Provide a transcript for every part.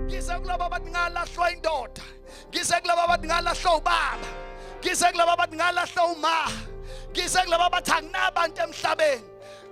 ngize kulaba abathi ngalahlwa indoda ngize kulaba abathi ngalahlwa ubaba ngize kulaba abathi ngalahlwa uma ngize kulaba abathi anginabantu emhlabeni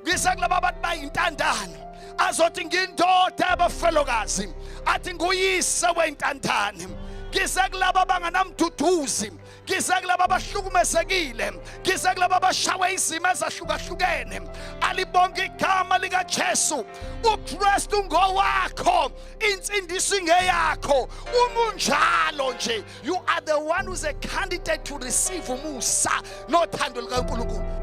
ngize kulaba abathi bayintandane azothi ngindoda abafelokazi athi nguyise weyintandane ngize kulaba abanganamduduzi ngize kulaba abahlukumezekile ngize kulaba abashawe izimo ezahlukahlukene alibonke igama likajesu ukristu ngowakho insindiso ingeyakho uma unjalo nje you are the one who's a candidate to receive umusa nothando likankulunkulu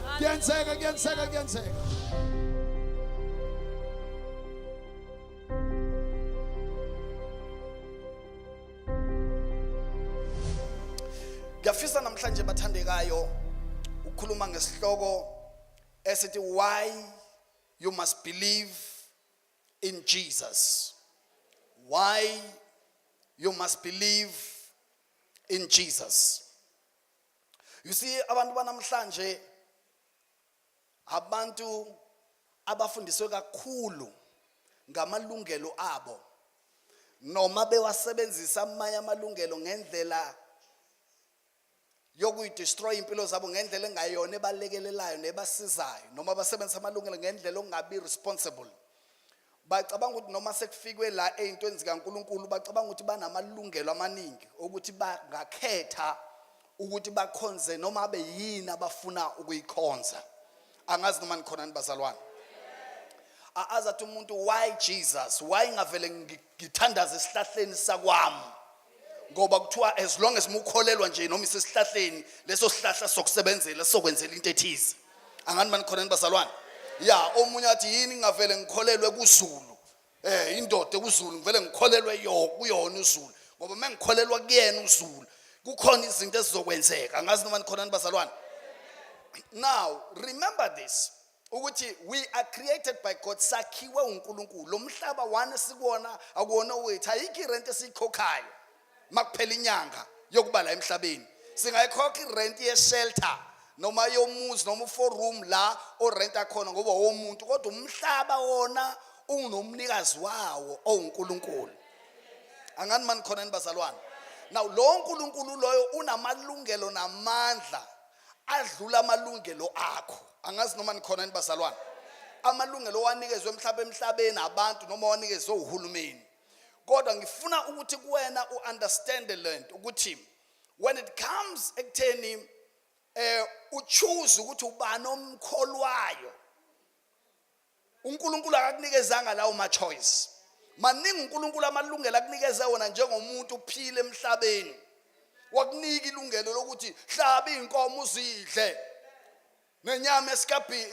Kuyenzeka, kuyenzeka, kuyenzeka. Ngiyafisa namhlanje bathandekayo ukukhuluma ngesihloko esithi why you must believe in Jesus. Why you must believe in Jesus. you see abantu banamhlanje abantu abafundiswe kakhulu ngamalungelo abo noma bewasebenzisa amanye amalungelo ngendlela yokuyidestroy impilo zabo ngendlela engayona ebalekelelayo nebasizayo noma basebenzisa amalungelo ngendlela ongabi responsible bacabanga ukuthi noma sekufikwe la ey'ntweni zikankulunkulu bacabanga ukuthi banamalungelo amaningi okuthi bangakhetha ukuthi bakhonze noma abe yini abafuna ukuyikhonza angazi noma nikhonani bazalwane azathi umuntu why jesus why ngavele ngithandaza esihlahleni sakwami ngoba kuthiwa as long as mukholelwa nje noma isesihlahleni leso sihlahla sokusebenzela sokwenzela into ethize angani banikholeni bazalwane ya omunye athi yini ngingavele ngikholelwe kuzulu eh indoda kuzulu ngivele ngikholelwe yo kuyona uzulu ngoba uma ngikholelwa kuyena uzulu kukhona izinto ezizokwenzeka angazi noma nikhonani bazalwane now remember this ukuthi we are created by god sakhiwe unkulunkulu lo mhlaba wani esikuwona akuwona wethu ayikho irenti esiyikhokhayo uma kuphela inyanga yokuba la emhlabeni singayikhokha irenti yeshelter noma yomuzi noma u-four room la orenta khona ngoba womuntu kodwa umhlaba wona ungunomnikazi wawo owunkulunkulu angani mani khona ni bazalwane now lowo nkulunkulu loyo unamalungelo namandla adlula amalungelo akho angazi noma nikhona yini bazalwane amalungelo owanikezwe emhlaba emhlabeni abantu noma owanikezwe uhulumeni kodwa ngifuna ukuthi kuwena u-understande le nto ukuthi when it comes ekutheni eh uchoose ukuthi ubani omkholwayo uNkulunkulu akakunikezanga lawo ma choice maningi uNkulunkulu amalungelo akunikeze wona njengomuntu uphile emhlabeni wakunika ilungelo lokuthi hlaba izinkomo uzidle nenyama esikabhi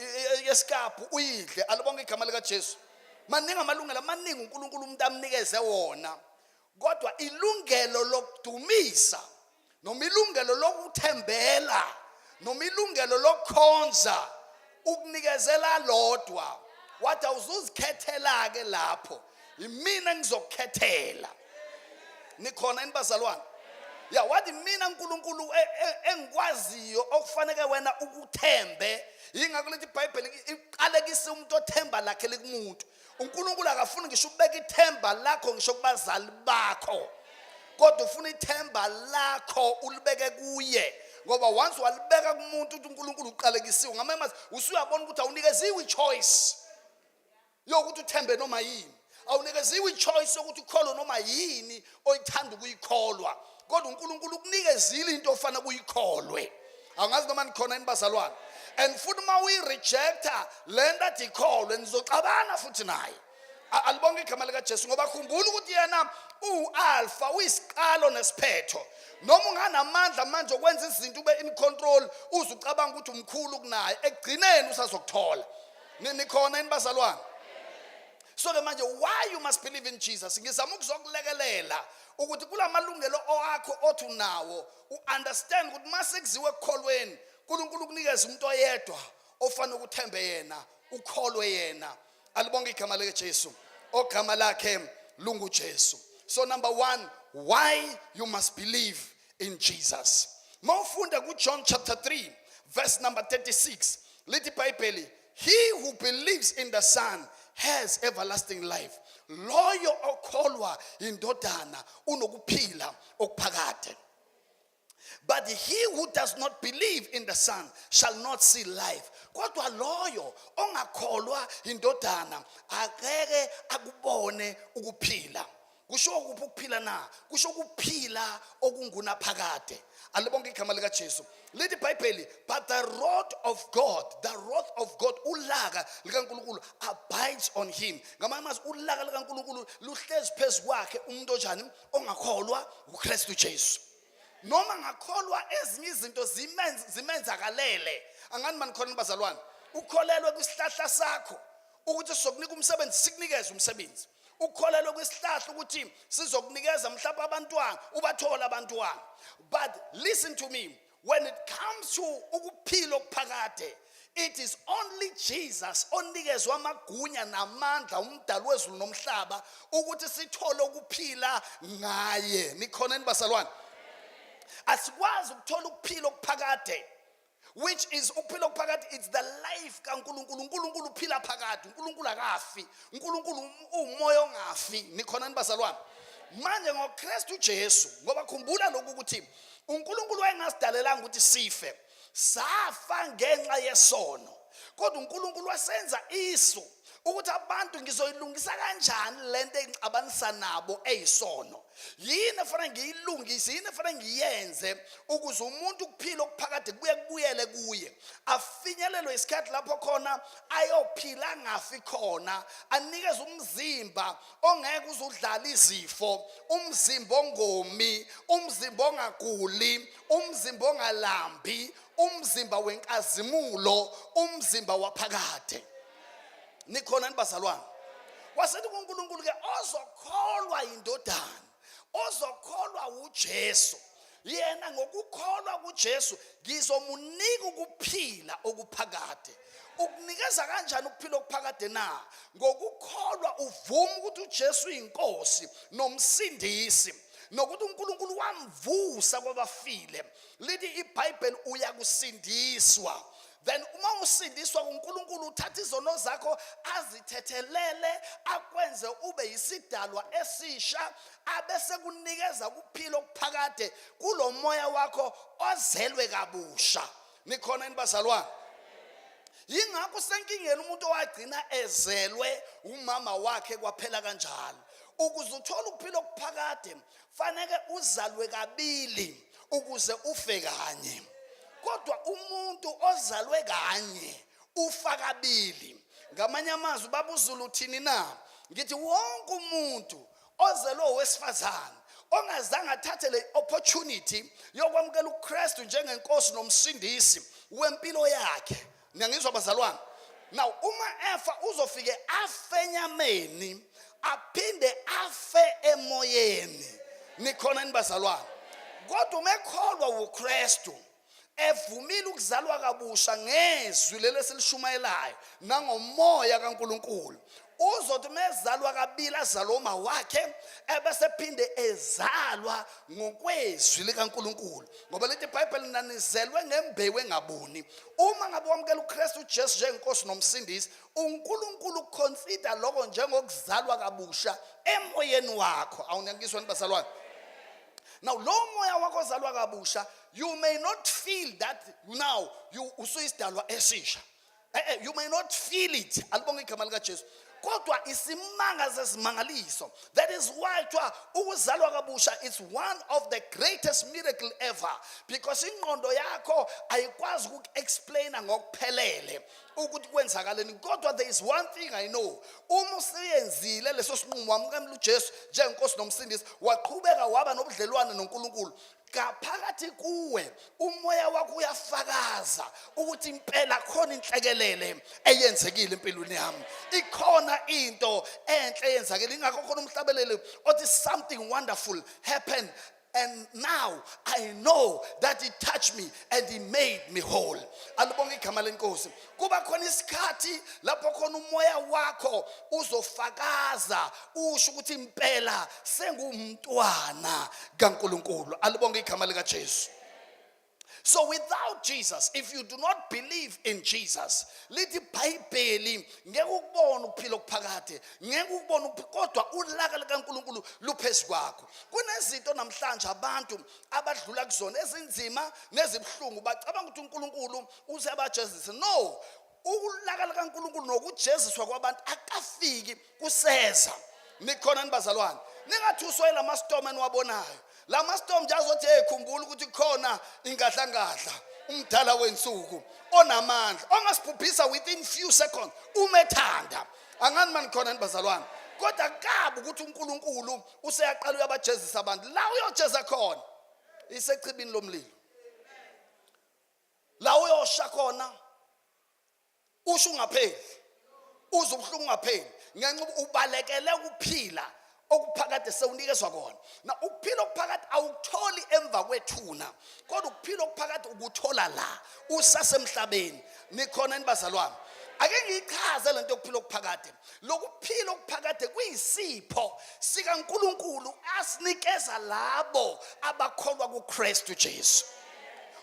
esikabhu uyidle alibonke igama lika Jesu maningi amalungelo maningi uNkulunkulu umuntu amnikeze wona kodwa ilungelo lokudumisa noma ilungelo lokuthembela noma ilungelo lokukhonza ukunikezela lodwa wathi awuzuzikhethela-ke lapho yimina ngizokukhethela nikhona yini bazalwane ya wathi mina nkulunkulu e, e, engikwaziyo okufaneke wena ukuthembe yingakho lethi ibhayibheli iqalekise umuntu othemba lakhe likumuntu unkulunkulu akafuni ngisho ukubeka ithemba lakho ngisho kubazali bakho kodwa ufuna ithemba lakho ulibeke kuye ngoba once walibeka kumuntu ukuthi unkulunkulu uqalekisiwe ngamamazi usuyabona ukuthi awunikeziwe i-choice yokuthi uthembe noma yini awunikeziwe i-choice yokuthi ukholo noma yini oyithanda ukuyikholwa kodwa uNkulunkulu ukunikezile into ofana kuyikholwe angazi noma nikhona yini bazalwane and futhi uma uyirejecta le nto athi ikholwe nizoxabana futhi naye alibonke igama likajesu ngoba khumbula ukuthi yena uwu-alfa uyisiqalo nesiphetho noma unganamandla manje okwenza izinto ube in control uze ucabanga ukuthi umkhulu kunaye ekugcineni usazokuthola nikhona yini bazalwane so ke manje why you must believe in jesus ngizama ukuzokulekelela ukuthi kula malungelo owakho othi unawo u-understand ukuthi uma sekuziwe ekukholweni unkulunkulu ukunikeza umuntu oyedwa ofanele ukuthembe yena ukholwe yena alibonge igama likajesu ogama lakhe lungujesu so number one why you must believe in jesus mawufunda kujohn chapter 3 verse number 36 lithi ibhayibheli He who believes in the Son has everlasting life. Loyo okholwa indodana unokuphila okuphakade. But he who does not believe in the Son shall not see life. Kodwa loyo ongakholwa indodana akeke akubone ukuphila. kusho kuphi ukuphila na kusho ukuphila okungunaphakade alibonke igama likajesu lithi ibhayibheli but the rod of god the rod of god ulaka likankulunkulu abides on him ngamanye amazwi ulaka likankulunkulu luhlezi phezu kwakhe umuntu onjani ongakholwa ukristu jesu noma ngakholwa ezinye izinto zimenzakalele angani manikhona bazalwane ukholelwe kwisihlahla sakho ukuthi sokunika umsebenzi sikunikeze umsebenzi ukholelwe kwisihlahla ukuthi sizokunikeza mhlawumbe abantwana ubathole abantwana but listen to me when it comes to ukuphila okuphakade it is only Jesus onikezwe amagunya namandla umdali wezulu nomhlaba ukuthi sithole ukuphila ngaye nikhona enibazalwane asikwazi ukuthola ukuphila okuphakade which is ukuphila okuphakade it's the life kaNkuluNkulu uNkuluNkulu uphila phakade uNkuluNkulu akafi uNkuluNkulu umoya ongafi nikhona nibazalwane manje ngoKristu Jesu ngoba khumbula lokhu ukuthi uNkuluNkulu wayengasidalelanga ukuthi sife safa ngenxa yesono kodwa uNkulunkulu wasenza iso ukuthi abantu ngizoyilungisa kanjani le nto engixabanisa nabo eyisono yini efanele ngiyilungise yini efanele ngiyenze ukuze umuntu ukuphila okuphakade kubuye kubuyele kuye afinyelelwe isikhathi lapho khona ayophila angafi khona anikeze umzimba ongeke uzudlala izifo umzimba ongomi umzimba ongaguli umzimba ongalambi umzimba wenkazimulo umzimba waphakade nikhona nibazalwane wasethi kunkulunkulu ke ozokholwa yindodana ozokholwa wujesu yena ngokukholwa kujesu ngizomunika ukuphila okuphakade ukunikeza kanjani ukuphila okuphakade na ngokukholwa uvuma ukuthi ujesu uyinkosi nomsindisi nokuthi uNkulunkulu wamvusa kwabafile lithi ibhayibheli uyakusindiswa then uma usindiswa kuNkulunkulu uthatha izono zakho azithethelele akwenze ube yisidalwa esisha abese kunikeza ukuphila okuphakade kulomoya wakho ozelwe kabusha nikhona yini bazalwane yingakho usenkingeni umuntu owagcina ezelwe umama wakhe kwaphela kanjalo ukuze uthole ukuphila okuphakade faneke uzalwe kabili ukuze ufe kanye kodwa umuntu ozalwe kanye ufa kabili ngamanye amazwi babuzulu thini na ngithi wonke umuntu ozelwe owesifazane ongazange athathe le opportunity yokwamukela uKristu njengenkosi nomsindisi wempilo yakhe niyangizwa bazalwane now uma efa uzofike afe enyameni aphinde afe emoyeni nikhona yini bazalwane kodwa uma ekholwa wukristu evumile ukuzalwa kabusha ngezwi leli esilishumayelayo nangomoya kaNkuluNkulu uzothi uma ezalwa kabili azalwa uma wakhe ebese phinde ezalwa ngokwezwi likaNkuluNkulu ngoba lithi iBhayibheli nanizelwe ngembewu engabuni uma ngabe wamukela uKristu uJesu njengenkosi nomsindisi uNkulunkulu uconsider lokho njengokuzalwa kabusha emoyeni wakho awunyakiswa nibazalwane now lo moya wakho ozalwa kabusha you may not feel that now you usuyisidalwa esisha Eh, eh, you may not feel it alibonge igama likajesu kodwa isimanga zezimangaliso that is why kuthiwa ukuzalwa kabusha is one of the greatest miracle ever because ingqondo yakho ayikwazi ukuku-explaina ngokuphelele ukuthi kwenzakaleni kodwa there is one thing i know uma useyenzile leso sinqumo wamukamela ujesu njengenkosi nomsindisi waqhubeka waba nobudlelwane nonkulunkulu ngaphakathi kuwe umoya wakho uyafakaza ukuthi impela khona inhlekelele eyenzekile empilweni yami ikhona into enhle eyenzakile ingakho khona umhlabeleli othi something wonderful happened and now i know that he touched me and he made me whole alibonge igama lenkosi kuba khona isikhathi lapho khona umoya wakho uzofakaza usho ukuthi impela sengumntwana kaNkuluNkulu alibonge igama lika Jesu So without Jesus, if you do not believe in Jesus, lithi iBhayibheli ngeke ukubona ukuphila okuphakade, ngeke ukubona kodwa ulaka likaNkuluNkulu luphezulu kwakho. Kunezinto namhlanje abantu abadlula kuzona ezinzima nezibuhlungu bacabanga ukuthi uNkuluNkulu uze abajezise no ukulaka likaNkuluNkulu nokujeziswa kwabantu akafiki kuseza nikhona nibazalwane ningathuswe lama storm eniwabonayo lama storm nje azothi hey khumbula ukuthi khona ingadlangadla umdala wensuku onamandla ongasibhubhisa within few seconds umethanda angani manikhona nibazalwane kodwa kabi ukuthi uNkulunkulu useyaqala uyabajezisa abantu la uyojeza khona isechibini lomlilo la uyosha khona usho ungapheli uze ubuhlungu ungapheli ngenxa uba ubalekele ukuphila okuphakade sewunikezwa kona na ukuphila okuphakade awukutholi emva kwethuna kodwa ukuphila okuphakade ukuthola la usasemhlabeni nikhona nibazalwane ake ngiyichaze lento yokuphila okuphakade lokuphila okuphakade kuyisipho sikaNkuluNkulu asinikeza labo abakholwa kuKristu Jesu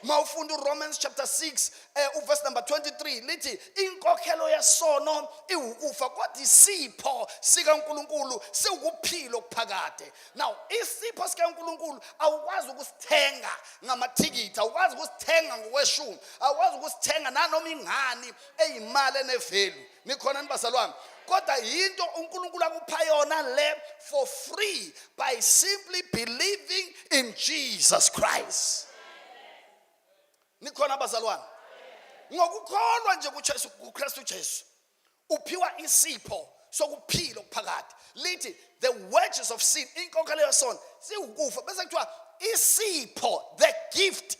mawufunda uRomans chapter 6 eh uverse number 23 lithi inkokhelo yesono iwukufa kodwa isipho sikaNkuluNkulu siwukuphila okuphakade now isipho sikaNkuluNkulu awukwazi ukusithenga ngamathikithi awukwazi ukusithenga ngokweshumi awukwazi ukusithenga nanoma ingani eyimali enevelu nikhona ni bazalwane kodwa yinto unkulunkulu akupha yona le for free by simply believing in jesus christ nikhona bazalwane ngokukholwa nje kujesu kukristu jesu uphiwa isipho sokuphila okuphakade lithi the wages of sin inkokhelo yesono siwukufa bese kuthiwa isipho the gift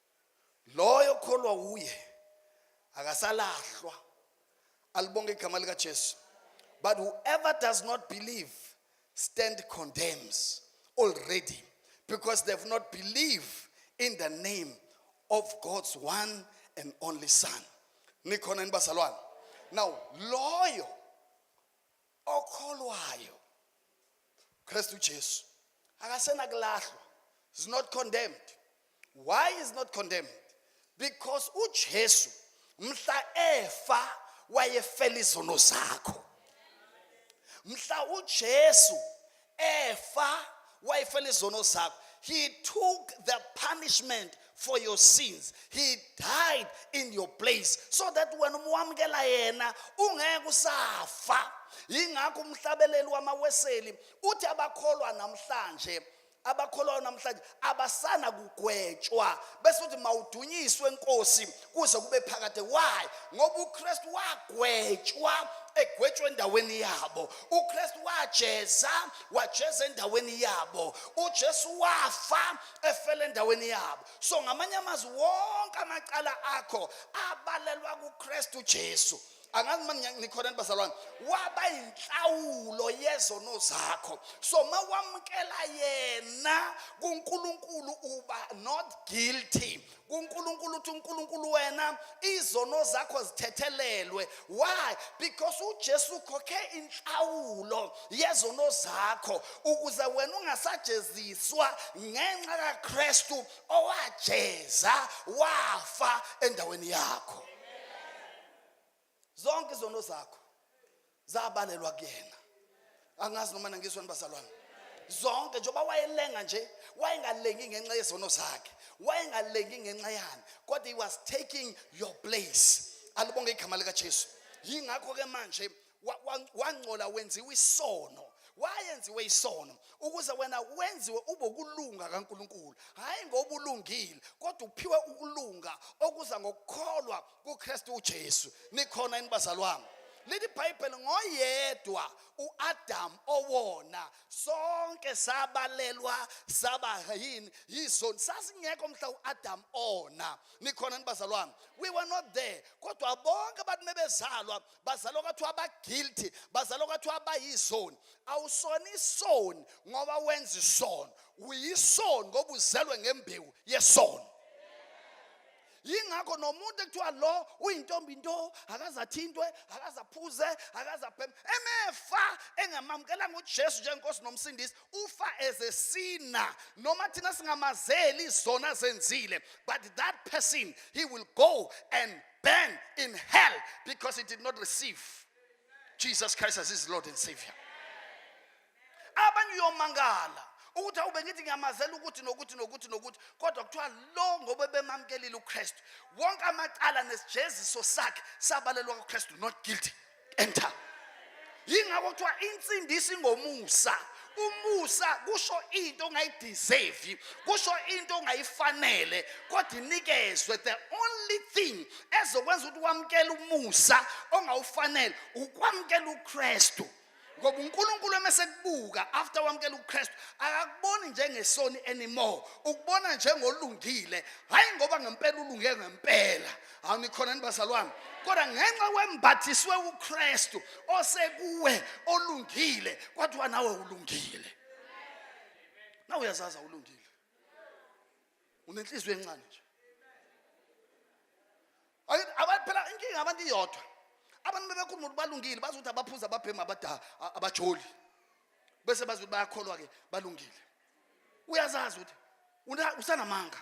loyo okholwa wuye akasalahlwa alibonge igama likaJesu but whoever does not believe stand condemns already because they've not believed in the name of God's one and only son nikhona yini bazalwane now loyo okholwayo Kristu Jesu akasena kulahlwa is not condemned why is not condemned because uJesu mhla efa wayefela izono zakho mhla uJesu efa wayefela izono zakho he took the punishment for your sins he died in your place so that wena uma wamukela yena ungeke usafa yingakho umhlabeleli wamaweseli uthi abakholwa namhlanje abakholwayo namhlanje abasana kugwetshwa bese uthi mawudunyiswe inkosi kuze kube phakade why ngoba uKristu wagwetshwa egwetshwa endaweni yabo uKristu wajeza wajeza endaweni yabo uJesu wafa efela endaweni yabo so ngamanye amazwi wonke amacala akho abalelwa kuKristu Jesu angazi uma nikhona nibazalwane waba inhlawulo yezono zakho so ma wamukela yena kuNkulunkulu uba not guilty kuNkulunkulu uthi uNkulunkulu wena izono zakho zithethelelwe why because uJesu ukhokhe inhlawulo yezono zakho ukuze wena ungasajeziswa ngenxa kaKristu owajeza wafa endaweni yakho zonke izono zakho zabalelwa kuyena angazi noma nangizweni bazalwane zonke njengoba wayelenga nje wayengalengi ngenxa yezono zakhe wayengalengi ngenxa yani kodwa he was taking your place alibonge igama likajesu yingakho-ke manje wangcola wenziwa isono wayenziwe isono ukuze wena wenziwe ube ukulunga kaNkuluNkulu hayi ngoba ulungile kodwa uphiwe ukulunga okuza ngokukholwa kuKristu uJesu nikhona yini bazalwane leli bhayibheli ngoyedwa uAdam owona sonke sabalelwa saba yini yizoni sasingekho mhla uAdam ona nikhona nibazalwane we were not there kodwa bonke abantu mebezalwa bazalwa kwathiwa abaguilty bazalwa kwathiwa abayizoni awusona isoni ngoba wenza isono uyisoni ngoba uzelwe ngembewu yesono yingakho nomuntu ekuthiwa lo uyintombi into akazathintwe akazaphuze akazabhema emefa engamamukelanga ujesu njengenkosi nomsindisi ufa as a sinner noma thina singamazeli izona zenzile but that person he will go and burn in hell because he did not receive Jesus Christ as his Lord and Savior. Abanye uyomangala ukuthi awube ngithi ngiyamazela ukuthi nokuthi nokuthi nokuthi kodwa kuthiwa lo ngoba bemamkelile uKristu wonke amacala nesijeziso sakhe sabalelwa kuKristu not guilty. enter yingakho kuthiwa insindiso ingomusa umusa kusho into ongayideserve kusho into ongayifanele kodwa inikezwe the only thing ezokwenza ukuthi wamkele umusa ongawufanele ukwamkela uKristu ngoba uNkulunkulu emesekubuka after wamkela uKristu akakuboni njengesoni anymore ukubona njengolungile hayi ngoba ngempela ulunge ngempela hawu nikhona yini bazalwane kodwa ngenxa wembathiswe ukristu osekuwe olungile kwathiwa nawe ulungile nawe uyazazi awulungile unenhliziyo encane nje abantu phela inkinga abantu iyodwa abantu bebekhuluma ukuthi balungile bazi ukuthi abaphuza ababhemi abajoli bese bazi ukuthi bayakholwa-ke balungile uyazazi ukuthi usanamanga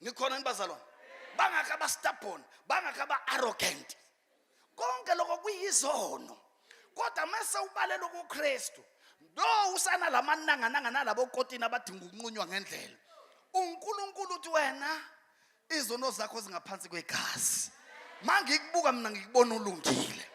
nikhona yini bazalwane bangakho abastabborn bangakho aba-arrogant konke lokho kuyizono kodwa mese ubalela ukukristu no usana la manangananga nalabo kotini abadinga ukunqunywa ngendlela unkulunkulu uthi wena izono zakho zingaphansi kwegazi ma ngikubuka mina ngikubona ulungile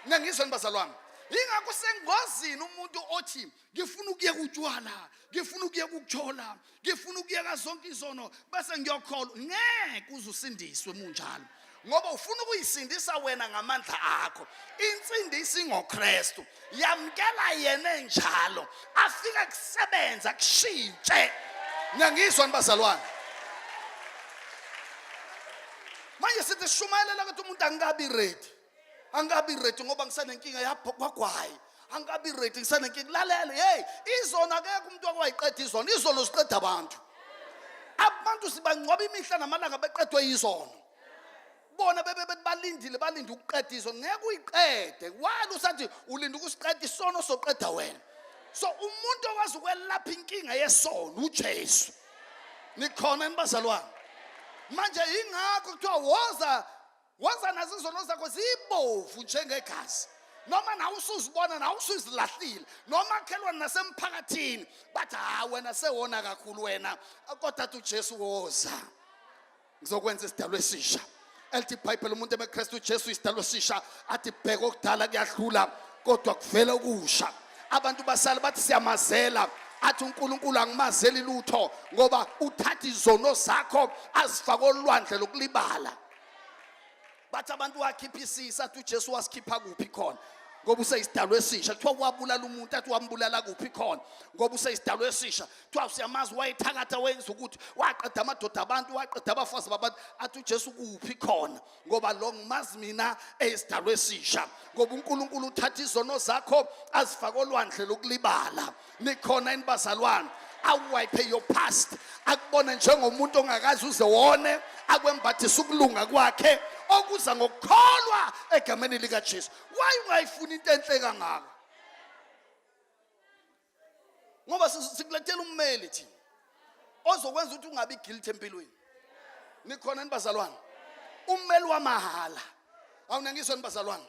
nengizweni bazalwane yingakho sengozini umuntu othi ngifuna ukuyeka utshwala ngifuna ukuyeka ukuthola ngifuna ukuyeka zonke izono bese ngiyokholwa ngeke uze usindiswe munjalo ngoba ufuna ukuyisindisa wena ngamandla akho insindisi ngoKristu yamkela yena enjalo afike kusebenza kushintshe ngiyangizwa nibazalwane manje sithi shumayela ukuthi umuntu angikabi ready angikabi ready ngoba ngisanenkinga yapho kwagwayi angikabi ready ngisanenkinga lalela hey izona akekho umuntu wakwayiqeda izona izono ziqeda abantu abantu sibangcwaba imihla namalanga beqedwe yizono bona bebe balindile balinde ukuqeda izono ngeke uyiqede wani usathi ulinda ukusiqeda isono soqeda wena so umuntu okwazi ukwelapha inkinga yesono uJesu nikhona enibazalwane manje ingakho kuthiwa woza Wenza nazo izono zakho zibovu njengegazi. Noma nawe usuzibona nawe usuzilahlile noma khelwana nasemphakathini bathi ha wena sewona kakhulu wena kodwa uJesu woza. Ngizokwenza isidalwa esisha. elithi ibhayibheli umuntu emekristu ujesu isidalo sisha athi bheka okudala kuyadlula kodwa kuvela okusha abantu basale bathi siyamazela athi uNkulunkulu angimazeli lutho ngoba uthatha izono zakho azifake olwandle lokulibala bathi abantu wakhipha isisa athi uJesu wasikhipha kuphi khona ngoba useyisidalwa esisha kuthiwa wabulala umuntu athi wambulala kuphi khona ngoba useyisidalwa esisha kuthiwa usiyamazi wayethakatha wenza ukuthi waqeda amadoda abantu waqeda abafazi babantu athi ujesu kuphi khona ngoba lo ngimazi mina eyisidalwa esisha ngoba unkulunkulu uthatha izono zakho azifake olwandle lokulibala nikhona yini bazalwane awuwayiphe your past akubone njengomuntu ongakazi uze wone akwembathisa ukulunga kwakhe okuza ngokukholwa egameni likaJesu why ungayifuni into enhle kangaka ngoba sikulethela ummeli thina ozokwenza ukuthi ungabi guilty empilweni nikhona nibazalwane ummeli wamahhala awunangizwe nibazalwane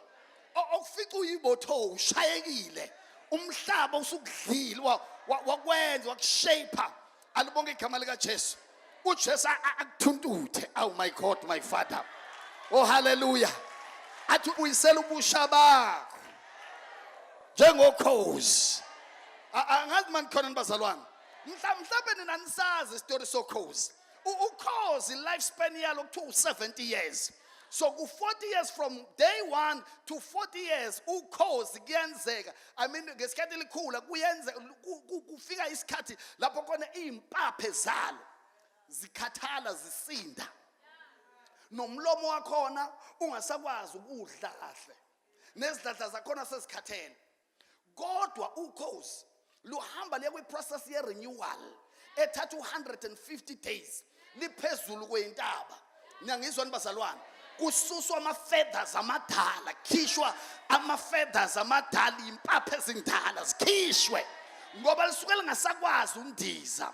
okufica uyibotho ushayekile umhlaba usukudlile wakwenza wakushaper alibonke igama likaJesu uJesu akuthuntuthe aw my god my father oh haleluya athi ubuyisela ubusha bakho njengokhozi angazi mani khona nibazalwane Mhla- mhlawumbe nina nisazi isitori sokhozi U- ukhozi lifespan yalo kuthiwa u-70 years so ku-40 years from day one to 40 years ukhozi kuyenzeka i mean ngesikhathi likhula kuyenze ku- ku- kufika isikhathi lapho khona iy'mpaphe zalo zikhathala zisinda nomlomo wakhona ungasakwazi ukudla kahle nezidladla zakhona sezikhathele kodwa ukhozi luhamba liye kwi-process ye-renewal ethatha u-150 days liphezulu kweyintaba niyangizwani bazalwane kususwa ama-feathers amadala khishwa ama-feathers amadala iy'mpapha ezindala zikhishwe ngoba lisuke lingasakwazi undiza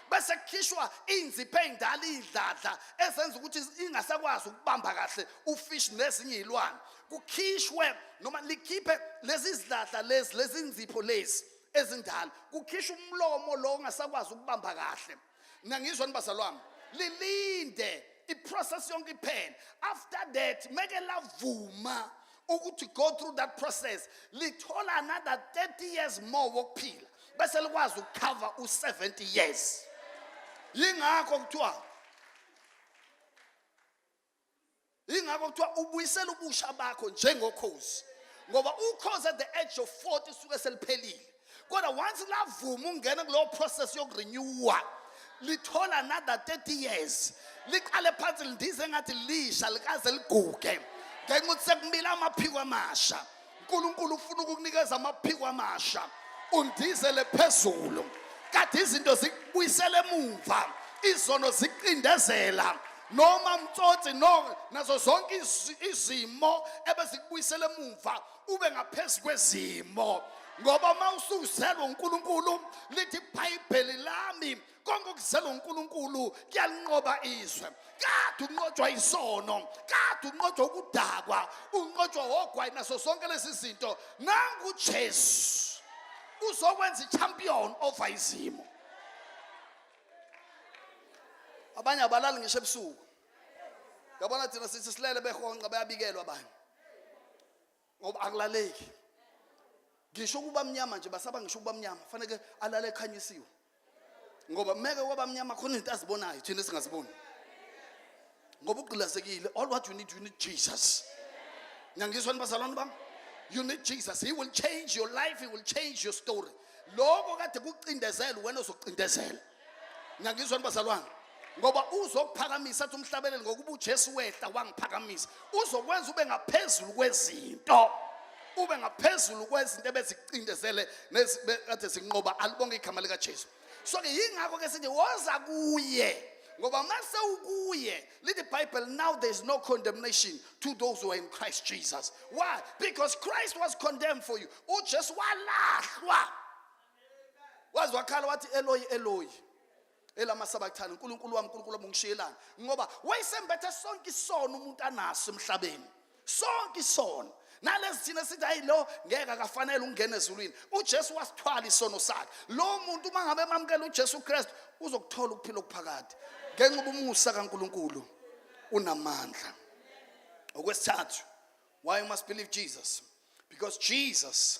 bese kukhishwa iy'nzipho ey'ndala iy'dladla ezenza ukuthi ingasakwazi ukubamba kahle ufish nezinye iy'lwane kukhishwe noma likhiphe lezi zidladla lezi lezi nzipho lezi ezindala kukhishwa umlomo lo ongasakwazi ukubamba kahle nangizwa nibazalwami lilinde iprocess yonke iphele after that make lavuma ukuthi go through that process lithola another 30 years more wokuphila bese likwazi ukucover u70 years yingakho kuthiwa ingakho kuthiwa ubuyisela ubusha bakho njengokhozi ngoba ukhozi at the age of 40 suke seliphelile kodwa once lavuma ungena kulowo process yokurenewa lithola another 30 years liqale phansi lindize engathi lisha likaze liguge ngenxa ukuthi sekumile amaphiko amasha uNkulunkulu ufuna ukukunikeza amaphiko amasha undizele phezulu kade izinto zikubuyisele emuva izono ziqindezela noma mtsotsi no nazo zonke izimo ebezikubuyisele emuva ube ngaphezulu kwezimo ngoba uma usuzelwe uNkulunkulu lithi ibhayibheli lami konke okuzelwa uNkulunkulu kuyalinqoba izwe kade unqotshwa isono kade unqotshwa ukudakwa unqotshwa ogwayi naso sonke lezi zinto nangu Jesu uzokwenza i-champion over izimo abanye abalali ngisho ebusuku yabona thina sithi silele behonqa bayabikelwa abanye ngoba akulaleki ngisho ukuba mnyama nje basaba ngisho ukuba mnyama faneke alale ekhanyisiwe ngoba meke waba mnyama khona izinto azibonayo thina singaziboni ngoba ugqilazekile all what you need you need Jesus ngiyangizwa nibazalwane bami you need Jesus he will change your life he will change your story lokho kade kucindezela wena uzocindezelwa ngiyangizwa nibazalwane ngoba uzokuphakamisa athi umhlabeleli ngokuba uJesu wehla wangiphakamisa uzokwenza ube ngaphezulu kwezinto ube ngaphezulu kwezinto ebezicindezele kade zinqoba alibonge igama likaJesu so ke yingakho ke sithi woza kuye ngoba mase ukuye lithi bible now there is no condemnation to those who are in christ jesus why because christ was condemned for you ujesu walahlwa waze wakhala wathi eloyi eloyi elamasabathane uNkulunkulu wami uNkulunkulu wami ungishiyelani ngoba wayesembethe sonke isono umuntu anaso emhlabeni sonke isono nalezi thina sithi hayi lo ngeke akafanele ungene ezulwini uJesu wasithwala isono sakhe lo muntu uma ngabe emamukela uJesu Kristu uzokuthola ukuphila okuphakade ngenxa ubumusa kaNkulunkulu unamandla okwesithathu why you must believe Jesus because Jesus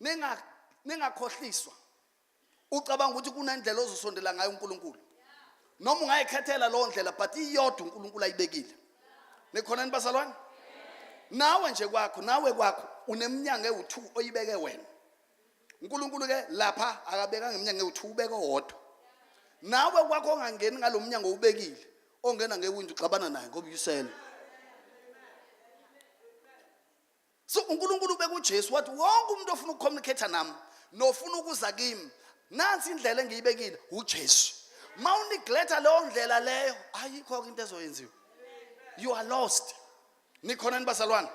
ninga ningakhohliswa ucabanga ukuthi kunendlela ozosondela ngayo uNkulunkulu noma ungayikhethela leyo ndlela but iyodwa uNkulunkulu ayibekile nikhona ni basalwane nawe nje kwakho nawe kwakho uneminyango ewu2 oyibeke wena uNkulunkulu ke lapha akabekanga iminyango ewu2 ubeke owodwa nawe kwakho ongangeni ngalomnyango ubekile ongena ngewindi uxabana naye ngoba uyisela so unkulunkulu ubeka ujesu wathi wonke umuntu ofuna ukucommunicate nami nofuna ukuza kimi nansi indlela engiyibekile ujesu ma unigletha leyo ndlela leyo ayikho-ke into ezoyenziwa you are lost nikhona ni bazalwane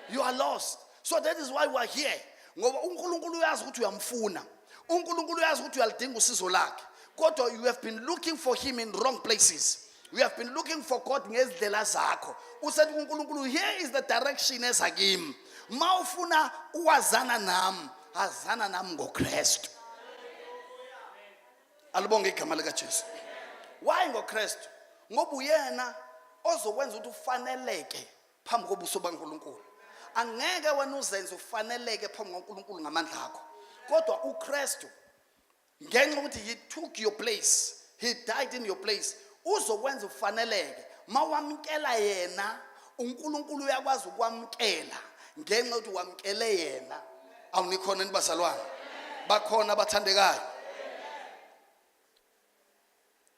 you are lost so that is why we are here ngoba unkulunkulu uyazi ukuthi uyamfuna unkulunkulu uyazi ukuthi uyalidinga usizo lakhe kodwa you have been looking for him in wrong places you have been looking for god ngezindlela zakho usethi kunkulunkulu here is the direction eza kimi ma ufuna uwazana nami azana nami ngokristu alibonge igama likajesu why ngokristu ngoba uyena ozokwenza ukuthi ufaneleke phambi kobuso baNkulunkulu angeke wena uzenze ufaneleke phambi kwaNkulunkulu ngamandla akho kodwa uKristu ngenxa ukuthi he took your place he died in your place uzokwenza ufaneleke mawamkela yena uNkulunkulu uyakwazi ukwamkela ngenxa ukuthi wamkele yena awunikhona nibazalwane bakhona abathandekayo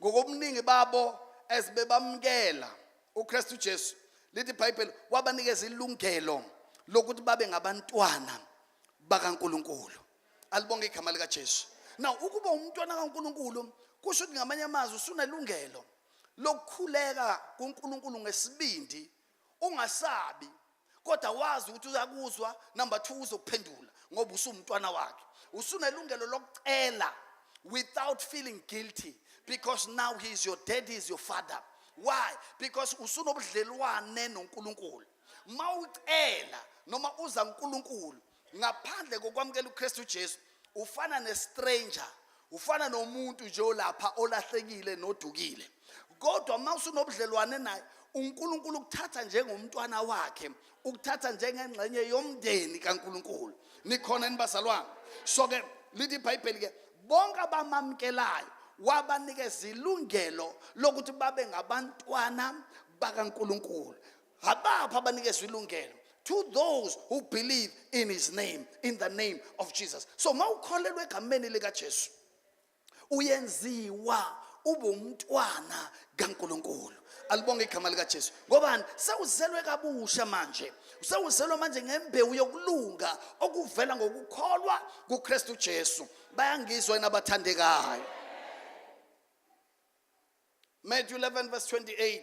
ngokobuningi babo as bebamukela uKristu Jesu lithi iBhayibheli wabanikeza ilungelo lokuthi babe ngabantwana bakaNkuluNkulu alibonge igama lika Jesu now ukuba umntwana kaNkuluNkulu kusho ukuthi ngamanye amazwi usunelungelo lokukhuleka kuNkuluNkulu ngesibindi ungasabi kodwa wazi ukuthi uyakuzwa number 2 uzokuphendula ngoba usumntwana wakhe usunelungelo lokucela without feeling guilty because now he is your daddy is your father why because usunobudlelwane noNkulunkulu mawucela noma uza kuNkulunkulu ngaphandle kokwamukela uKristu Jesu ufana nestranger ufana nomuntu nje olapha olahlekile nodukile kodwa uma usunobudlelwane naye uNkulunkulu ukuthatha njengomntwana wakhe ukuthatha njengengxenye yomndeni kaNkulunkulu nikhona nibazalwane so ke lithi iBhayibheli ke bonke abamamkelayo wabanikeza ilungelo lokuthi babe ngabantwana bakaNkulunkulu abapha abanikezwa ilungelo to those who believe in his name in the name of jesus so uma ukholelwa egameni likajesu uyenziwa ube umntwana kankulunkulu alibonge igama likajesu ngobani sewuzelwe kabusha manje sewuzelwe manje ngembewu yokulunga okuvela ngokukholwa kukristu jesu bayangizwa yena abathandekayo matthew 11 verse 28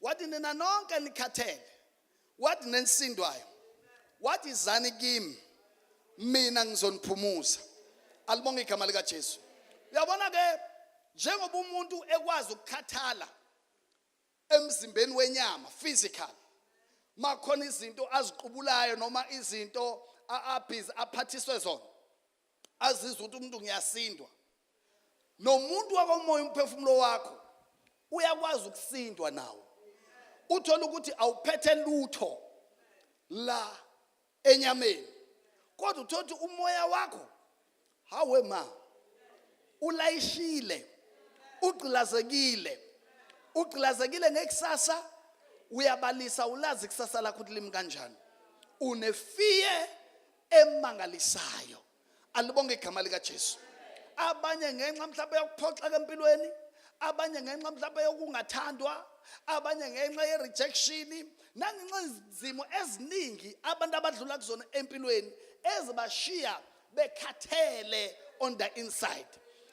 wathi nina nonke nikhathele wathi nensindwayo wathi izani kimi mina ngizoniphumuza alibonge igama likaJesu uyabona ke njengoba umuntu ekwazi ukukhathala emzimbeni wenyama physical makhona izinto aziqubulayo noma izinto abhizi aphathiswe zona azizwe ukuthi umuntu ngiyasindwa nomuntu wakomoya umphefumulo wakho uyakwazi ukusindwa nawo uthola ukuthi awuphethe lutho la enyameni kodwa uthola ukuthi umoya wakho hawe ma ulayishile ugqilazekile ugqilazekile ngekusasa uyabalisa ulazi ikusasa lakho ukuthi limi kanjani unefear emangalisayo alibonge igama likaJesu abanye ngenxa mhlawumbe yokuphoxeka empilweni abanye ngenxa mhlawumbe yokungathandwa abanye ngenxa ye-rejection nangenxa izimo eziningi abantu abadlula kuzona empilweni ezibashiya bekhathele on the inside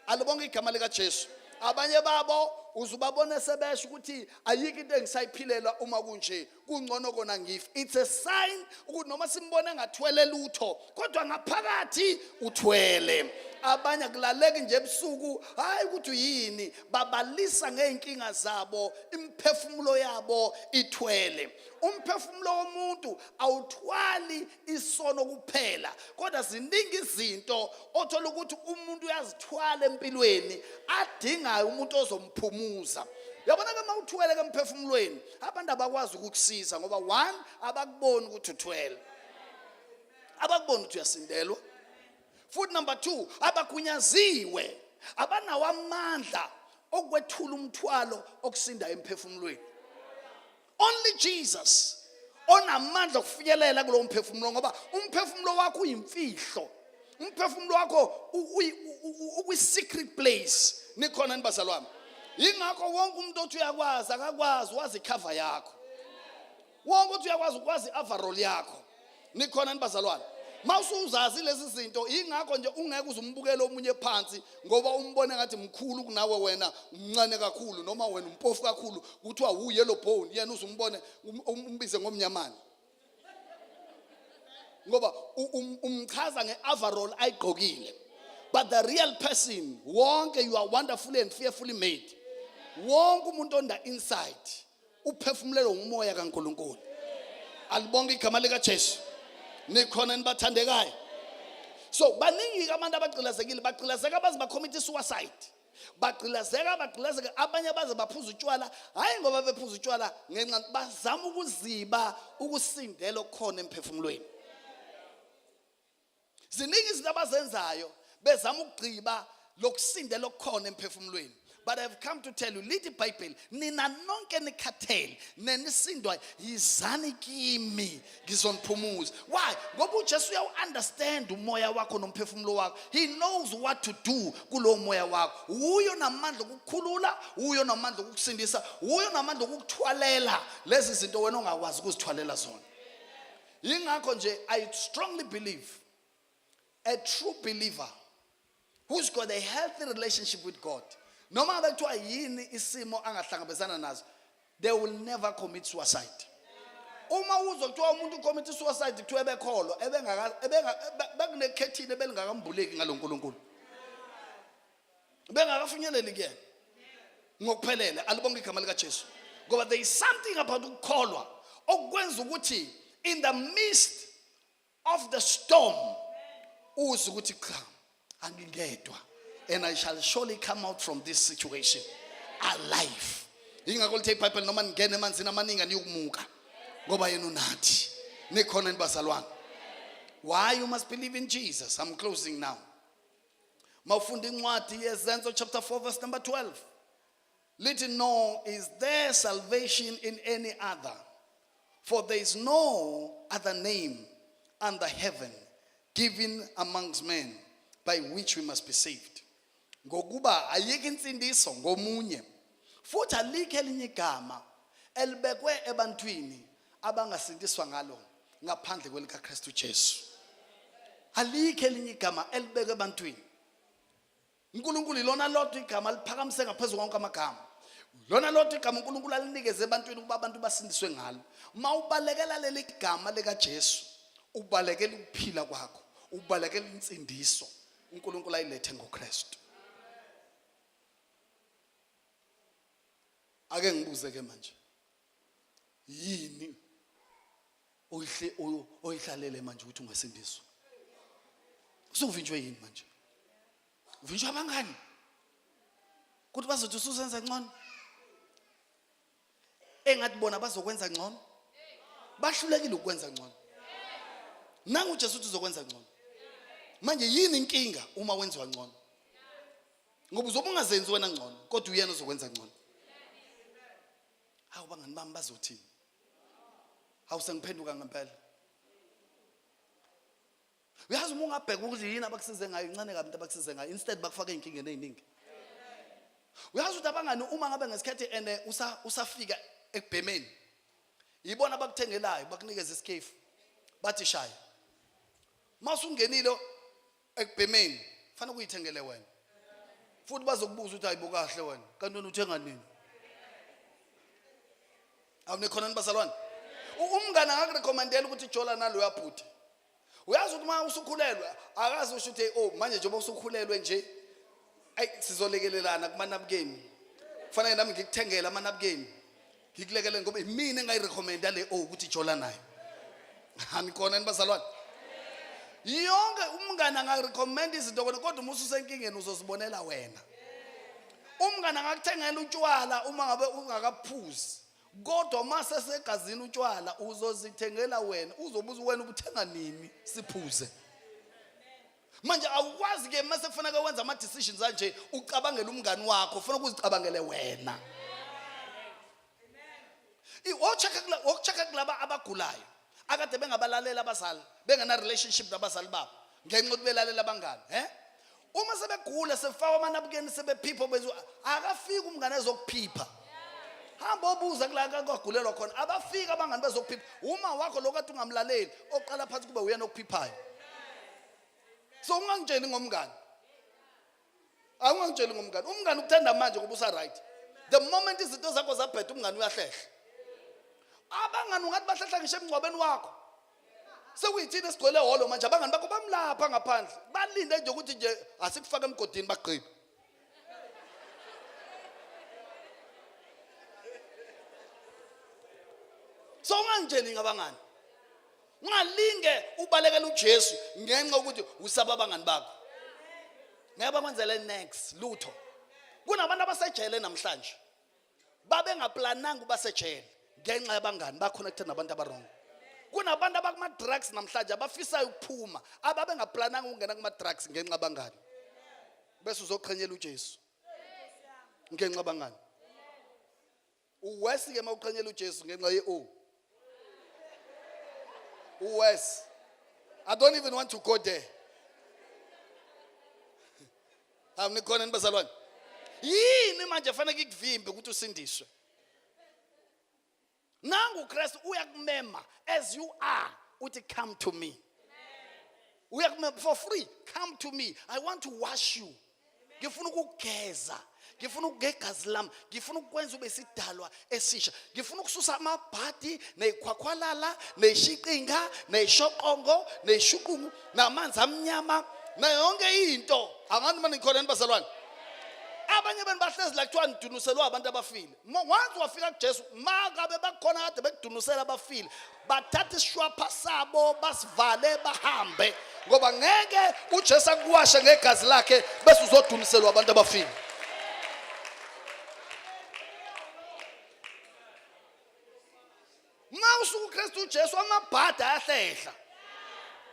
alibonge igama likajesu abanye babo uzubabona sebesho ukuthi ayikho into engisayiphilela uma kunje kungcono kona ngif it's a sign ukuthi noma simbona ngathwele lutho kodwa ngaphakathi uthwele abanye akulaleki nje ebusuku hayi ukuthi yini babalisa ngeenkinga zabo imphefumulo yabo ithwele umphefumulo womuntu awuthwali isono kuphela kodwa ziningi izinto othola ukuthi umuntu uyazithwala empilweni adingayo umuntu ozomphumuza yabona ke mawuthwele ke emphefumulweni abantu abakwazi ukukusiza ngoba one abakuboni ukuthi uthwele abakuboni ukuthi uyasindelwa futhi number two abagunyaziwe abanawo amandla okwethula umthwalo okusinda emphefumulweni only jesus onamandla okufinyelela kulowo mphefumulo ngoba umphefumulo wakho uyimfihlo umphefumulo wakho ukwi-secret place nikhona ni bazalwane yingakho wonke umuntu othi uyakwazi akakwazi wazi ikhava yakho wonke othi uyakwazi ukwazi i-avarol yakho nikhona ni bazalwane mawusuzazi lezi zinto ingakho nje ungeke uzumbukele omunye phansi ngoba umbone ngathi mkhulu kunawe wena umncane kakhulu noma wena umpofu kakhulu kuthiwa wu yellow bone yena uzumbone um, um, umbize ngomnyamane ngoba um, umchaza nge-averall ayigqokile but the real person wonke you are wonderfully and fearfully made wonke umuntu on the inside uphefumulelwe ngumoya kaNkuluNkulu alibonke igama lika Jesu nikhona nibathandekayo so baningi abantu abagqilazekile bagqilazeka abazi bakhomitha suicide bagqilazeka bagqilazeka abanye baze baphuza utshwala hhayi ngoba bephuza utshwala ngenxa bazama ukuziba ukusindela okukhona emphefumulweni ziningi izinto abazenzayo bezama ukugqiba lokusindela okukhona emphefumulweni but i've come to tell you lithi ibhayibheli nina nonke nikhathele nenisindwayo yizani kimi ngizoniphumuza why ngoba ujesu uyawu-understand umoya wakho nomphefumulo wakho he knows what to do kulowo moya wakho wuyo namandla okukukhulula wuyo namandla okukusindisa wuyo namandla okukuthwalela lezi zinto wena ongakwazi ukuzithwalela zona yingakho nje i strongly believe a true believer who's got a healthy relationship with God noma ngabe kuthiwa yini isimo angahlangabezana nazo they will never commit suicide uma uzwa kuthiwa umuntu ucommit suicide kuthiwa ebekholwa bekunekhethini ebelingakambuleki ngalo nkulunkulu bengakafinyeleli kuyena ngokuphelele alibonke igama likajesu ngoba there is something about ukukholwa okwenza ukuthi in the midst of the storm uze ukuthi cha angingedwa and i shall surely come out from this situation alive yingakho lithe ibhayibheli noma ningena emanzini amaningi aniyokumuka ngoba yena unathi nikhona ni bazalwane why you must believe in jesus i'm closing now mawufunda incwadi yezenzo chapter 4 verse number 12 lithi no is there salvation in any other for there is no other name under heaven given amongst men by which we must be saved ngokuba ayike insindiso ngomunye futhi alikho elinye igama elibekwe ebantwini abangasindiswa ngalo ngaphandle kwelikaKristu Jesu alikho elinye igama elibekwe ebantwini uNkulunkulu ilona lodwa igama liphakamise ngaphezulu konke amagama lona lodwa igama uNkulunkulu alinikeze ebantwini ukuba abantu basindiswe ngalo uma ubalekela leli gama likaJesu ubalekela ukuphila kwakho ubalekela insindiso uNkulunkulu ayilethe ngoKristu ake ngibuze ke manje yini oyihle oyihlalele manje ukuthi ungasindiswa usuvinjwe yini manje uvinjwa abangani ukuthi bazothi usuzenza ngcono engathi bona bazokwenza ngcono bahlulekile ukwenza ngcono nangu uJesu uthi uzokwenza ngcono manje yini inkinga uma wenziwa ngcono ngoba uzobe ungazenzi wena ngcono kodwa uyena uzokwenza ngcono hawu bangani bami bazothini hawu sengiphenduka ngempela uyazi uma ungabheka ukuthi yini abakusize ngayo incane kabi into abakusize ngayo instead bakufaka ey'nkingeni ey'ningi uyazi ukuthi abangani uma ngabe ngesikhathi and eh, usafika ekubhemeni yibona abakuthengelayo bakunikeza isikefu bathi shaya masungenile ekubhemeni fanele kuyithengele wena futhi bazokubuza ukuthi hayibo kahle wena kanti wena uthenga nini awunikhona nibazalwane umngane angakurekhomendela ukuthi jola nalo uyabhuti uyazi ukuthi uma usukhulelwe akazi usho ukuthi o oh, manje njengoba usukhulelwe nje ayi sizolekelelana kumanabukeni kufanele nami ngikuthengele amanabukeni ngikulekele ngoba imina engayirecommenda le o ukuthi jola nayo anikona ni bazalwane yonke umngane angarecommenda izinto kona kodwa uma ususenkingeni uzozibonela wena umngane angakuthengela utshwala uma ngabe ungakaphuzi kodwa uma sesegazini utshwala uzozithengela wena uzobuza wena ubuthenga nini siphuze manje awukwazi ke mase kufanele wenza ama decisions anje ucabangela umngani wakho ufuna ukuzicabangele wena ochaka kula ochaka kulaba abagulayo akade bengabalalela abazali bengena relationship nabazali babo ngenxa ukuthi belalela abangani eh uma sebegula sefawa amanabukeni sebephipha benza akafiki umngane ezokuphipha hamba obuza kula kwagulelwa khona abafika abangani bezokuphipha uma wakho lokade ungamlaleli oqala phansi kube uyena okuphiphayo so ungangitsheli ngomngani awungangitsheli ngomngani umngani ukuthanda manje ngoba usa-right the moment izinto zakho zabheda umngani uyahlehla abangani ungathi bahlehla ngisho emngcwabeni wakho sekuyithini esigcwele holo manje abangani bakho bamlapha ngaphandle balinde nje ukuthi nje asikufake emgodini bagqibe so ungangitsheli ngabangani ungalinge ubalekela uJesu ngenxa ukuthi usaba abangani bakho ngeke bakwenzele next lutho kunabantu abasejele namhlanje babengaplananga uba sejele ngenxa yabangani baconnected nabantu abarong kunabantu abakuma-drugs namhlanje abafisayo ukuphuma ababengaplananga ukungena kuma-drugs ngenxa abangani bese uzoqhenyela ujesu ngenxa abangani Uwesi ke mawuqhanyela uJesu ngenxa ye o. Uwesi. I don't even want to go there. Awunikhona nibazalwane. Yini manje fanele ikuvimbe ukuthi usindiswe? Nangu uKristu uyakumema as you are uthi come to me. Uyakumema for free come to me. I want to wash you. ngifuna ukugeza ngifuna ukugegazi lami ngifuna ukwenza ube sidalwa esisha ngifuna ukususa amabhadi neyikhwakhwalala neyishiqinga neyishoqongo neyishuqungu namanzi amnyama nayo yonke into angani mani ngikhona ni bazalwane abanye abantu bahlezi la kuthiwa nidunuselwa abantu abafile once wafika kujesu makabe bakhona kade bekudunusela abafile bathatha isishwapha sabo basivale bahambe ngoba ngeke uJesu akuwashe ngegazi lakhe bese uzodumiselwa abantu abafile uma usuka uKristu uJesu amabhada ayahlehla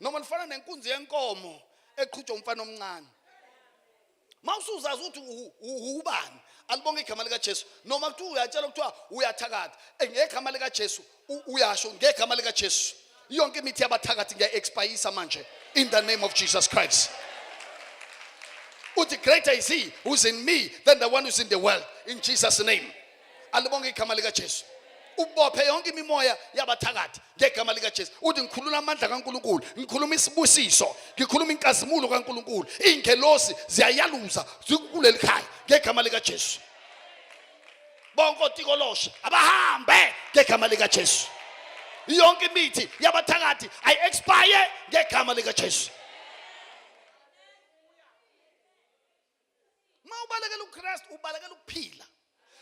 noma lifana nenkunzi yenkomo eqhutshwa umfana omncane mawusuzazi ukuthi ubani alibonge igama likaJesu noma kuthiwa uyatshela kuthiwa uyathakatha eh, ngegama likaJesu uyasho ngegama likaJesu yonke imithi yabathakathi ngiya-expayisa manje in the name of Jesus Christ uthi greater is he who's in me than the one who's in the world in Jesus name alibonge igama likaJesu ubophe yonke imimoya yabathakathi ngegama likaJesu uthi ngikhulula amandla kaNkuluNkulu ngikhuluma isibusiso ngikhuluma inkazimulo kaNkuluNkulu iingelosi ziyayaluza zikuleli khaya ngegama likaJesu bonke otikoloshe abahambe ngegama likaJesu yonke imithi yabathakathi ayi expire ngegama likaJesu Uma ubalekela uKristu ubalekela ukuphila.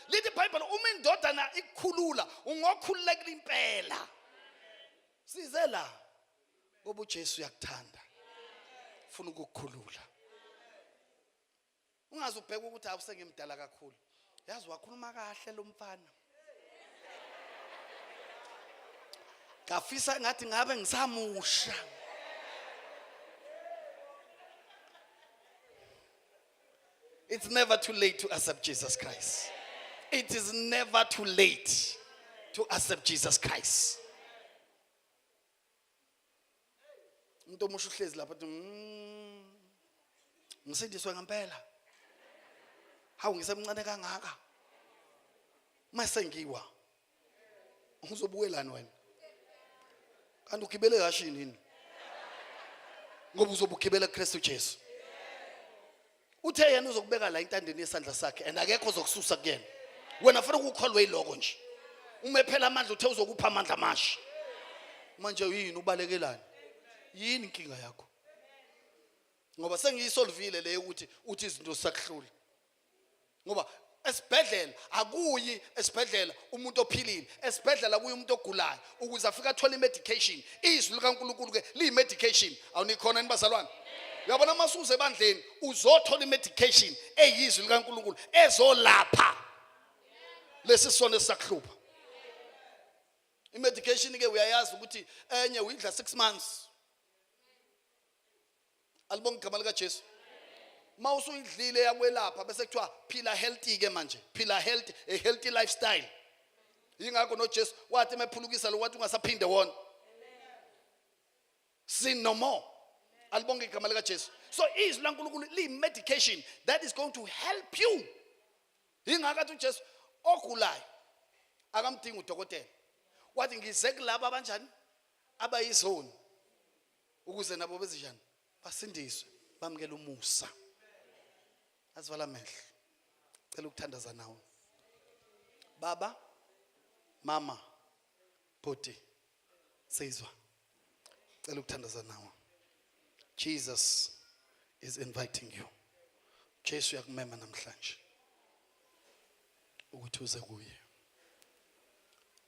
Lithi iBhayibheli uma indodana ikukhulula ungokhululekela impela. Size la ngoba uJesu uyakuthanda. Ufuna ukukukhulula. Ungaze ubheke ukuthi awusengimdala kakhulu. Yazi wakhuluma kahle lo mfana. ngafisa ngathi ngabe ngisamusha It's never too late to accept Jesus Christ. It is never too late to accept Jesus Christ. umuntu omusha uhlezi lapha athi mm, ngisindiswe ngempela hawu ngisemncane kangaka mase ngiwa uzobukelani wena kanti ugibele kashi yini ngoba uzobugibela kuKristu Jesu uthe yena uzokubeka la intandeni yesandla sakhe and akekho ozokususa kuyena wena funa ukukholwa yiloko nje uma ephela amandla uthe uzokupha amandla amasha manje yini ubalekelani yini inkinga yakho ngoba sengiyisolvile le ukuthi uthi izinto sakuhlula ngoba esibhedlela akuyi esibhedlela umuntu ophilile esibhedlela kuye umuntu ogulayo ukuze afike athole i-medication izwi likankulunkulu ke liyi-medication awunikhona ni bazalwane uyabona uma suze ebandleni uzothola i-medication eyizwi likankulunkulu ezolapha lesi sono esisakuhlupha i-medication ke uyayazi ukuthi enye uyidla six months alibonga igama likaJesu uma usuyidlile yakwelapha bese kuthiwa phila healthy ke manje phila healthy a healthy lifestyle yingakho noJesu wathi emephulukisa lo wathi ungasaphinde wona sin no more alibonga igama likaJesu so izwi laNkulunkulu li medication that is going to help you yingakho athi uJesu ogulayo akamdingi udokotela wathi ngize kulabo abanjani abayizoni ukuze nabo bezinjani basindiswe bamukele umusa azivala amehlo cela ukuthandaza nawe baba mama bhuti seyizwa cela ukuthandaza nawe jesus is inviting you jesu uyakumema namhlanje ukuthi uze kuye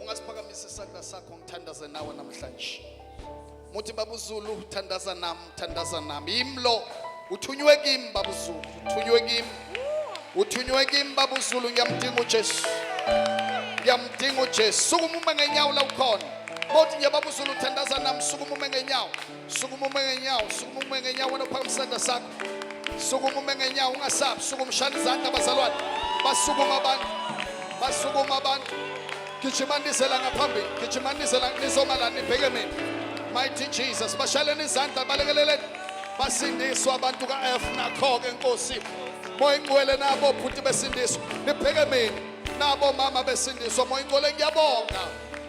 ungasiphakamisa isandla sakho ngithandaze nawe namhlanje muthi babuzulu thandaza nami thandaza nami yimlo uthunywe kimi babuzulu uthunywe kimi uthunywe kimi babuzulu ngiyamdinga ujesu ngiyamdinga ujesu sukuma ume ngenyawo la ukhona mothi nje babuzulu thandaza nami sukuma ume ngenyawo Sukuma ume ngenyawo, sukuma ume ngenyawo wena uphakama isandla sakho. Sukuma ume ngenyawo ungasabi, sukuma shana izandla abazalwane. Basukuma abantu. Basukuma abantu. Gijimanisela ngaphambili, gijimanisela nizoma la nibheke mina. Mighty Jesus, bashaleni izandla balekeleleni. Basindiswa abantu kaF nakho-ke Nkosi. Moya ingcwele nabo bhuti besindiswa. Nibheke mina. Nabo mama besindiswa. Moya ingcwele ngiyabonga.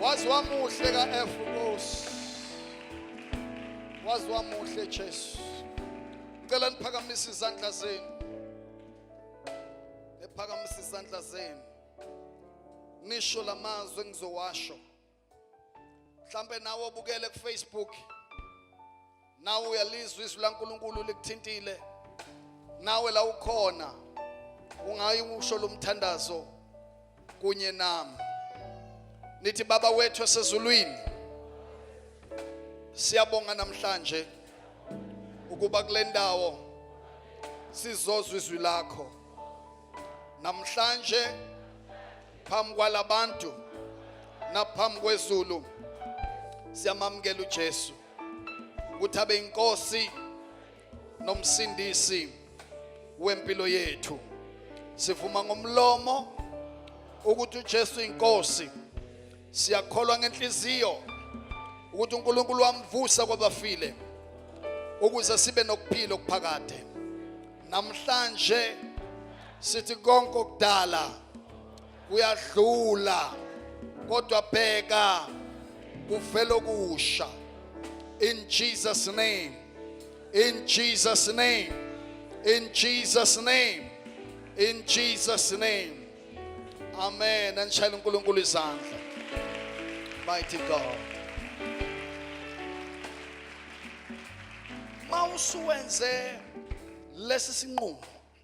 waze wamuhle ka-f nkosi waze wamuhle jesu ngicela niphakamise izandla zenu niphakamise izandla zenu nisho la mazwi engizowasho mhlampe nawe obukele kufacebook nawe uyalizwa izwi laNkulunkulu likuthintile nawe la ukhona ungayi usho lomthandazo kunye nami nithi baba wethu esezulwini siyabonga namhlanje ukuba kulendawo sizozwa izwi lakho namhlanje phambi kwalabantu naphambi kwezulu siyamamukela uJesu ukuthi abe inkosi nomsindisi wempilo yethu sivuma ngomlomo ukuthi uJesu inkosi siyakholwa ngenhliziyo ukuthi uNkulunkulu wamvusa kwabafile ukuze sibe nokuphila okuphakade namhlanje sithi konke okudala kuyadlula kodwa bheka kuvela okusha in Jesus name in Jesus name in Jesus name in Jesus name amen anishayela uNkulunkulu izandla mighty God mawusuwenze lesi sinqumo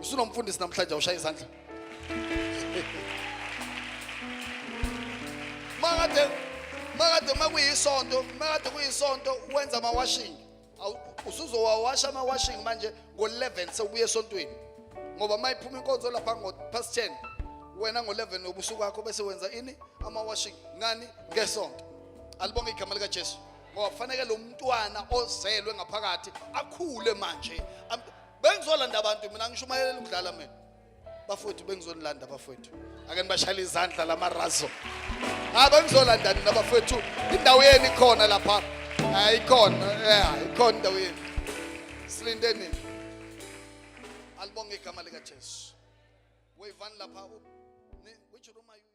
usunomfundisi namhlanje awushaye izandla makade makade makuyisonto makade kuyisonto wenza ama washing usuzowawasha ama washing manje ngo 11 sewubuye esontweni ngoba mayiphuma inkonzo lapha ngo past 10 wena ngo 11 nobusuku wakho bese wenza ini ama washing ngani ngesonto alibonge igama lika Jesu ngoba kufanele lo mntwana ozelwe ngaphakathi akhule manje bengizolanda abantu mina ngishumayelele ukudlala mina bafowethu bengizonilanda bafowethu ake nibashayele izandla lamarazo ha bengizolanda nina bafowethu indawo yenu ikhona lapha ayikhona ya ikhona indawo yenu silinde nini alibonge igama likajesu weyivani lapha which room are you